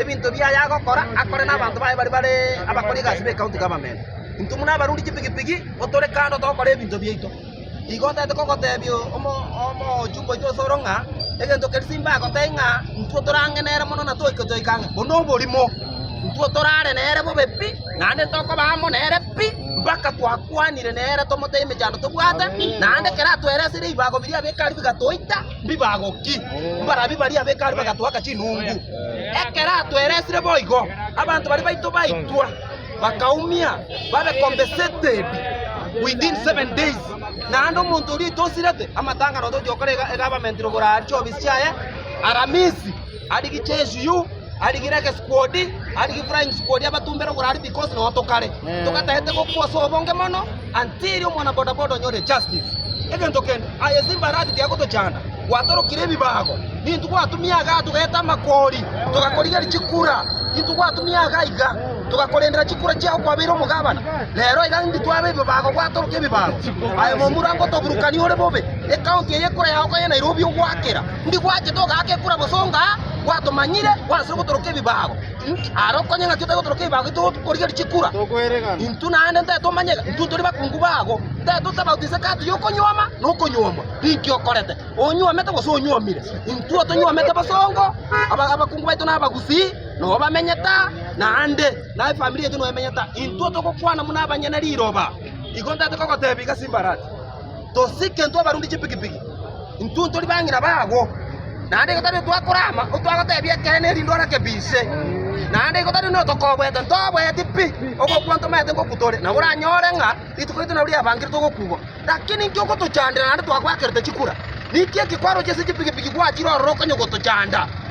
Ebinto biaye agokora akore nabanto baye baria bare abakori egasi b'ecounty government. Intwe buna abarundi chipigipigi otore kando togokora ebinto biaito. Igo otaete kogotebia omochumba oito ase oro ng'a egento keria simba agotebie ng'a intwe tore ang'e nere mono na toike toike ang'e buna oborimo. Intwe torare nere bobe pi naende tokoba amo nere pi mpaka twakwanire nere tomotebie emechando tobwate naende ekero atweresirie ebibago biria abekari bigatoita. Mbibagoki, mbarabwo baria ab'Hekalu bagatoaka chinungu. Ekero atweresire boigo, abanto baria baito baitwa, bakaumia babe compensated within seven days. Naende omonto oria oitosirete amatang'ana otochia gokora ega- egabamentiri igoro aria chiobisi chiaye Aramisi. Arigie chesio, arigire egesikuodi, arigie flying sikuodi abatumbe ere oborari because nonya tokare togatagete gokwa ase obonge mono until omwana boda boda onyore justice. Egento kende aye ase embarati tiagotochanda gwatorokire ebibago nintwe gwatumia igaa togaeta amakori togakorigeria chikura nintwe gwatumia igaa iga togakorendera chikura chiago kwabeire omogabana rero iga indi twabe ebibago gwatoroka ebibago aye momura ngotoburukania ore bobe ecounty eye ekura yago koye Nairobi ogwakera Ndi gwachete ogaaka ekura gose ongaa, gwatomanyire, gwanserire gotoroka ebibago. Aare okonye ng'aki otari gotoroka ebibago getogorigereria chikura. Intwe naende ntari tomanye ng'a intwe ntore bakungu babo. Ntari totaba oti inse kati y'okonyuoma na okonyuomwa, ninki okorete, onyuomete gose onyuomire? Intwe otonyuomete bosongo, aba- abakungu baito na abagusii nobo bamenyete aa, naende na efamiri yaito noyo emenyete aa. Intwe togokwana buna abanyene riroba. Igo ntaete kogoteebia gasimbaraati. Tosike intwe abarundi chipikipiki, intwe ntori bang'ina babo, naende igo tari otwakorama otwagotebia ekeene erinde orake bise, naende igo tari notokobwete ntobweti pi ogokwa ntomaete ngokwa tore, nabo oranyore ng'a rituko riaito nabo riabangire togokugwa. Lakini inki ogotochandera naende twagwakerete chikura? Ninki eke kwarochia ase chipikipiki gwachire ororo okanye gotochanda?